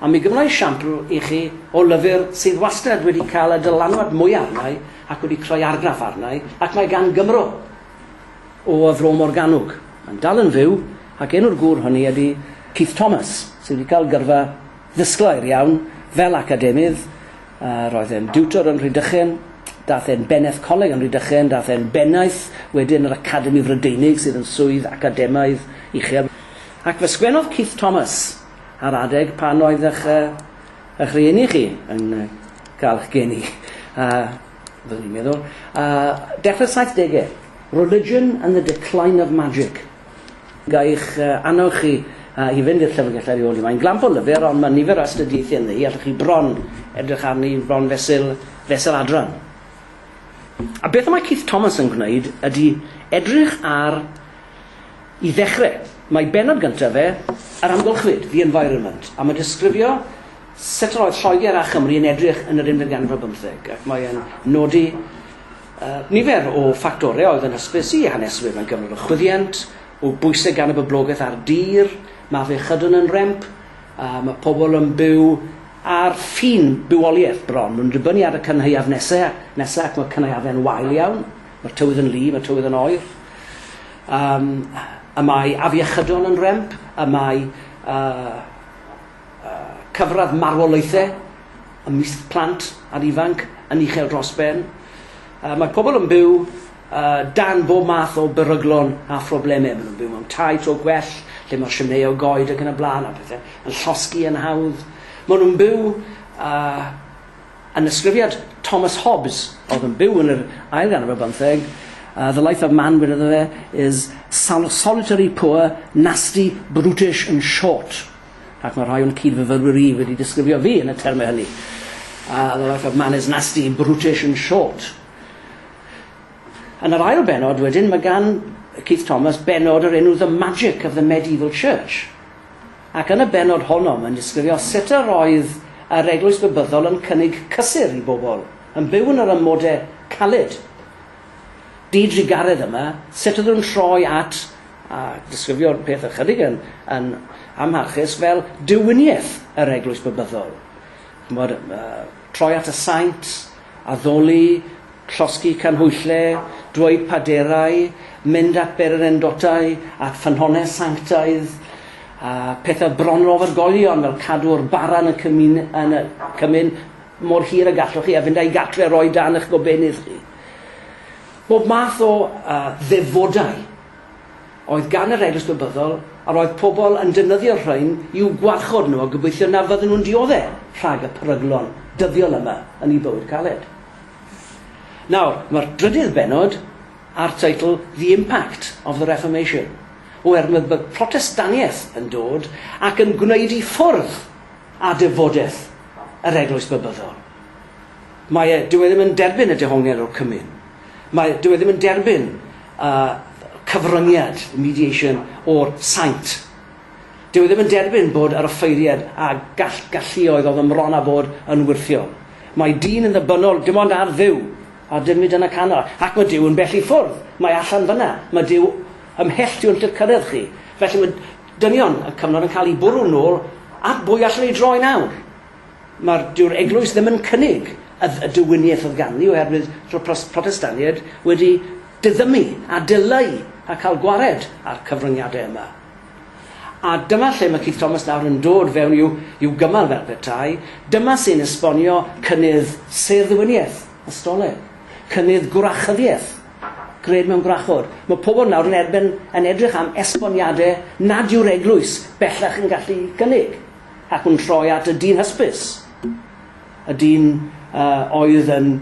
A mi gymra i siampl i chi o lyfr sydd wastad wedi cael y dylanwad mwya arnai ac wedi creu argraff arnai, ac mae gan Gymro o y Fro Morgannwg, mae'n dal yn fyw, ac enw'r gŵr hynny ydi Keith Thomas, sydd wedi cael gyrfa ddisglair iawn fel academydd, Roedd e'n diwtor yn Rhydychen, daeth e'n bennaeth coleg yn Rhydychen, daeth e'n bennaeth wedyn yr Academi Frydeinig sydd yn swydd academaidd uchel. Ac fe sgwennodd Keith Thomas ar adeg pan oedd eich eich rhieni chi yn cael eich geni, a fyddwn i'n meddwl, a dechrau'r saithdegau, Religion and the Decline of Magic. Gai'ch annog chi i fynd i'r llyfrgell ar ei ôl hi. Mae'n glamp o lyfr, ond mae nifer o astudiaethau ynddo hi, allwch chi bron edrych arni bron fesul, fesul adran. A beth y mae Keith Thomas yn gwneud ydy edrych ar, i ddechrau, mae bennod gyntaf fe, Yr Amgylchfyd, The Environment, a mae'n disgrifio sut yr oedd Lloegr a Chymru yn edrych yn yr unfed ganrif ar bymtheg, ac mae'n nodi Nifer o ffactorau oedd yn hysbys i haneswyr mewn cyfnod o chwyddiant, o bwysau gan y boblogaeth a'r dir, mae afiechydon yn remp, a mae pobl yn byw ar ffin bywoliaeth bron. Mae'n dibynnu ar y cynhaeaf nesau, nesaf ac mae cynhaeafau'n wael iawn. Mae'r tywydd yn lu, mae tywydd yn oer. Um, y mae afiechydon yn remp, y mae uh, Cyfradd marwolaethau ymysg plant a'r ifanc yn uchel dros ben. Mae pobl yn byw dan bob math o beryglon a phroblemau. Maen nhw'n byw mewn tai to gwell, lle mae'r simnei o goed ac yn y blaen, a pethau yn llosgi yn hawdd. Maen nhw'n byw yn ysgrifiad Thomas Hobbes, oedd yn byw yn yr ail ganrif ar bymtheg, The life of man, gwedodd e, is solitary, poor, nasty, brutish and short. ac mae rhai o'n cyd-fyfyrwyr i wedi disgrifio fi yn y termau hynny. A the life of man is nasty, brutish and short. Yn yr ail benod wedyn, mae gan Keith Thomas benod yr enw The Magic of the Medieval Church. Ac yn y benod honno, mae'n disgrifio sut yr oedd yr eglwys bybyddol yn cynnig cysur i bobl, yn byw yn yr amodau caled. Di-drugaredd yma, sut ydw nhw'n troi at a disgrifio'r peth ychydig yn yn amharchus fel diwiniaeth yr Eglwys Babyddol. Ch'mod, uh, troi at y saint, addoli, llosgi canhwyllau, dweud paderau, mynd at bererindodau, at ffynhonnell sanctaidd, a pethau bron ofergolion fel cadw'r bara yn y cymun, yn y cymun mor hir y gallwch chi a fynd a'i gartre roi dan eich gobenydd chi. Bob math o ddefodau oedd gan yr Eglwys Bebyddol a roedd pobl yn defnyddio'r rhain i'w gwarchod nhw a gobeithio na fydden nhw'n diodde' rhag y peryglon dyddiol yma yn eu bywyd caled. Nawr, mae'r drydydd bennod â'r teitl The Impact of the Reformation, oherwydd mae Protestaniaeth yn dod ac yn gwneud i ffwrdd â defodeth yr Eglwys Bebyddol. Mae e, dyw e ddim yn derbyn y dehongliad o'r cymun. Mae e, dyw e ddim yn derbyn y cyfryngiad, the mediation, o'r saint. Dyw e ddim yn derbyn bod yr offeiriad a gall, galluoedd oedd yn mron â bod yn wyrthiol. Mae dyn yn ddybynnol dim ond ar Dduw, a dim hyd yn y canol. Ac mae Duw yn bell i ffwrdd. Mae allan fyna. Mae Duw ymhell tu hwnt i'r cyrraedd chi. Felly mae dynion y cyfnod yn cael eu bwrw nôl at bwy allan ni droi nawr. Mae'r, dyw'r eglwys ddim yn cynnig y, y diwiniaeth oedd ganddi oherwydd roedd pros, Protestaniaid wedi diddymu a dileu a cael gwared â'r cyfryngiadau yma. A dyma lle mae Keith Thomas nawr yn dod fewn i'w, i'w gymal fel petai, dyma sy'n esbonio cynnydd sêr-ddiwiniaeth, ystoleg, cynnydd gwrachyddiaeth, gred mewn gwrachod. Mae pobl nawr yn erbyn yn edrych am esboniadau nad yw'r eglwys bellach yn gallu cynnig. Ac yn troi at y dyn hysbys, y dyn oedd yn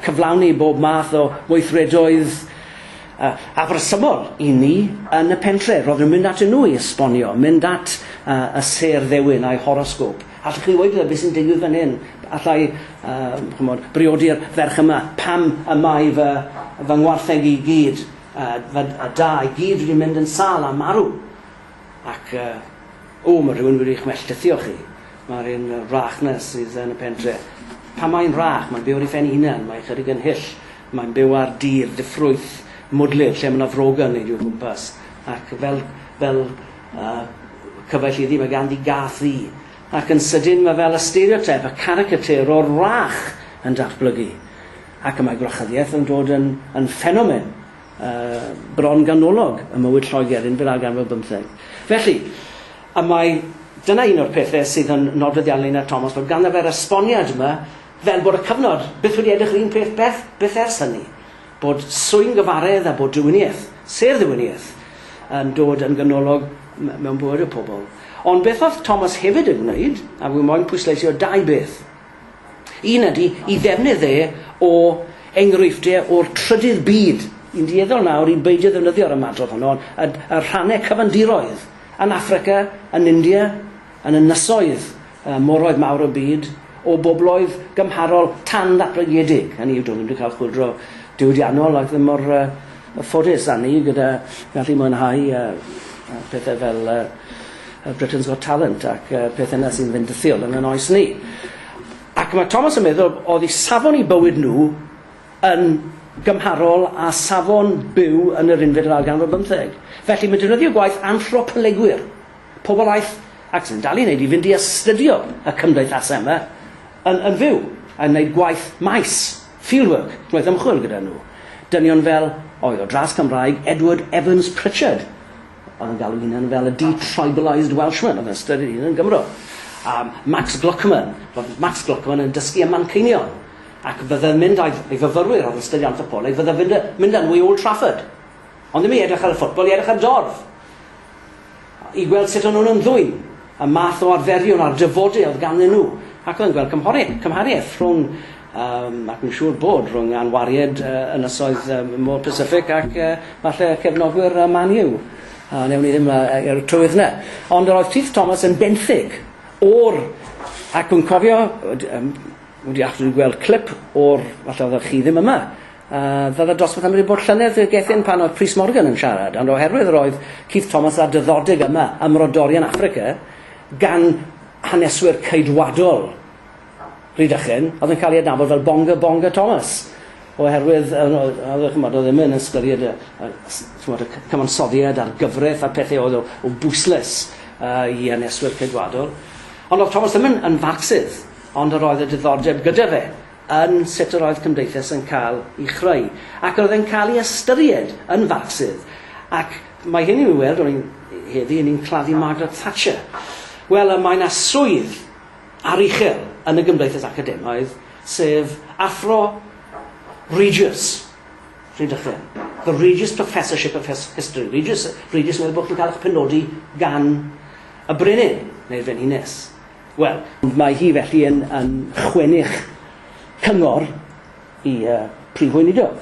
cyflawni bob math o weithredoedd afresymol i ni yn y pentre', roedden nhw'n mynd atyn nhw i esbonio, mynd at y sêr ddewin a'i horosgôp, 'Allwch chi ddweud iddo beth sy'n digwydd fan hyn? Alla i briodi'r ferch yma? Pam y mae fy ngwartheg i gyd, fy da i gyd wedi mynd yn sâl a marw? Ac O, mae rhywun wedi'ch melltithio chi. Mae'r un wrach 'na sydd yn y pentre. Pam mae'n wrach? Mae'n byw ar ei phen ei hunan. Mae ychydig yn hyll. Mae'n byw ar dir diffrwyth, mwdlyd, lle mae 'na frog yn neud i'w gwmpas. Ac fel, fel, uh, cyfaill iddi, mae ganddi gath ddu. Ac yn sydyn mae fel y stereotype, y caricature o'r wrach yn datblygu. Ac y mae gwrachyddiaeth yn dod yn, yn ffenomen. bron ganolog ym mywyd Lloegr yn fel arganfod ar bymtheg. Felly, y mae dyna un o'r pethau sydd yn nodweddiadol i Ned Thomas, bod ganddo fe'r esboniad yma fel bod y cyfnod byth wedi edrych yr un peth beth, byth ers hynny, bod swyn gyfaredd a bod diwiniaeth, sêr ddiwiniaeth, yn dod yn ganolog mewn bywyd y pobl. Ond beth oedd Thomas hefyd yn gwneud, a wi moyn pwysleisio dau beth, Un ydy i ddefnydd e o enghreifftie o'r trydydd byd. Yn dueddol nawr i beidio ddefnyddio'r ymadrodd honno, ond y y rhannau cyfandiroedd, yn Affrica, yn India, yn ynysoedd y moroedd mawr y byd, o bobloedd gymharol tan-ddatblygedig, hynny yw, do'n nhw ddim wedi cael chwyldro diwydiannol ac ddim mor yy Ffodus da ni gyda gallu mwynhau pethau fel Britain's Got Talent ac pethau yna sy'n fynd fythiol yn yn oes ni. Ac mae Thomas yn meddwl oedd i safon i bywyd nhw yn gymharol a safon byw yn yr unfed yr ail ganrif bymtheg. Felly mae defnyddio gwaith anthropolegwyr, pobl aeth ac sy'n dal i wneud i fynd i astudio y cymdeithasau yma yn yn fyw, yn wneud gwaith maes. Fieldwork, gwaith ymchwil gyda nhw. Dynion fel, oi, o dras Cymraeg, Edward Evans Pritchard, oedd yn galw hunan fel y de-tribalised Welshman, oedd yn ystyried ei hun yn Gymro. A Max Gluckman, roedd Max Gluckman yn dysgu ym Manceinion, ac fe ddydd mynd â'i ei fyfyrwyr oedd yn ystyried anthropoleg, fe ddydd fynd â nhw i Old Trafford. Ond ddim i edrych ar y ffwtbol, i edrych ar dorf. i weld sut o'n nhw'n ymddwyn, y math o arferion a'r dyfodau oedd ganddyn nhw, ac oedd yn gweld cymhoriaeth, cymhariaeth rhwng, um, ac yn siŵr bod, rhwng anwariad uh, ynysoedd um, Môr Pacific ac uh, falle cefnogwyr uh, Man U. Uh, newn ni ddim uh, er y trywydd yna. Ond yr oedd Keith Thomas yn benthyg o'r... Ac yn cofio, um, wedi after gweld clip o'r, falle oedd chi ddim yma, A fydda fe dosbarth amryw bod llynedd y gethyn pan oedd Prys Morgan yn siarad, ond oherwydd yr oedd Keith Thomas a dyddodeg yma ym Mrodorion Affrica gan haneswyr Ceidwadol Rhydychen, oedd yn cael ei adnabod fel Bonga Bonga Thomas, oherwydd oedd, oedd, chymod, oedd ddim yn ystyried y, y, chymod, y cyfansoddiad a'r gyfraith a'r pethau oedd o, o bwysles uh, i haneswyr Ceidwadol. Ond oedd Thomas ddim yn, yn farcsydd, ond yr oedd y diddordeb gyda fe yn sut yr oedd cymdeithas yn cael ei chreu, ac yr oedd e'n cael ei ystyried yn Farcsydd, ac mae hyn i'w weld, o'n i'n, heddi, o'n i'n claddu Margaret Thatcher. Wel, y mae yna swydd ar uchel yn y gymdeithas academaidd, sef Athro Regius, Rhydychen, The Regius Professorship of History, Regius, Regius yn meddwl bod chi'n cael eich penodi gan y Brenin, neu'r Frenhines. Wel, mae hi felly yn yn chwennych cyngor i y Prif Weinidog,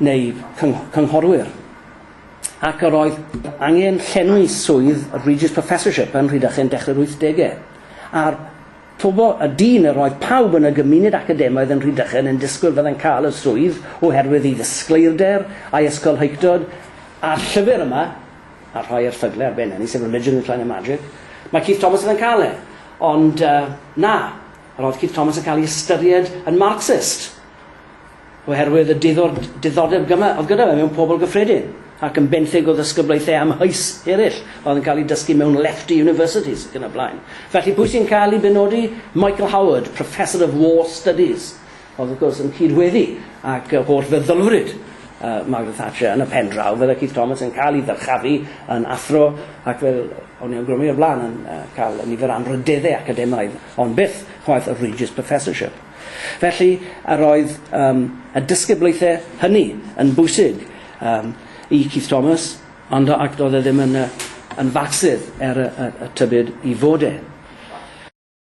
neu cyng- cynghorwyr, ac yr oedd angen llenwi swydd Regius Professorship yn Rhydychen yn dechrau'r wythdege, a'r pobo- y dyn yr oedd pawb yn y gymuned academaidd yn Rhydychen yn disgwyl fyddai'n cael y swydd oherwydd ei ddisgleirder a'i ysgolheictod a'r llyfr yma, a rhoi erthygle ar ben hynny, sef Religion, Decline and Magic, mae Keith Thomas yn yn cael e. Ond uh, na, roedd Keith Thomas yn cael ei ystyried yn Marxist oherwydd y diddordeb gyma oedd gyda fe mewn pobl gyffredin ac yn benthyg o ddysgyblaethau amhys eraill oedd yn cael ei dysgu mewn lefty universities ac yn y blaen. Felly pwy sy'n cael ei benodi? Michael Howard, Professor of War Studies, Oedd wrth gwrs yn cyd-weddu ag yr holl feddylfryd Margaret Thatcher yn y pen draw, fydde Keith Thomas yn cael ei ddyrchafu yn athro ac fel o'n i awgrymu o'r blaen yn cael y nifer anrhydeddau academaidd ond byth chwaith y Regius Professorship. Felly yr oedd um, y disgyblaethau hynny yn bwysig um, i Keith Thomas ond ac doedd e ddim yn, yn fatsydd er y, y, y tybyd i fod e.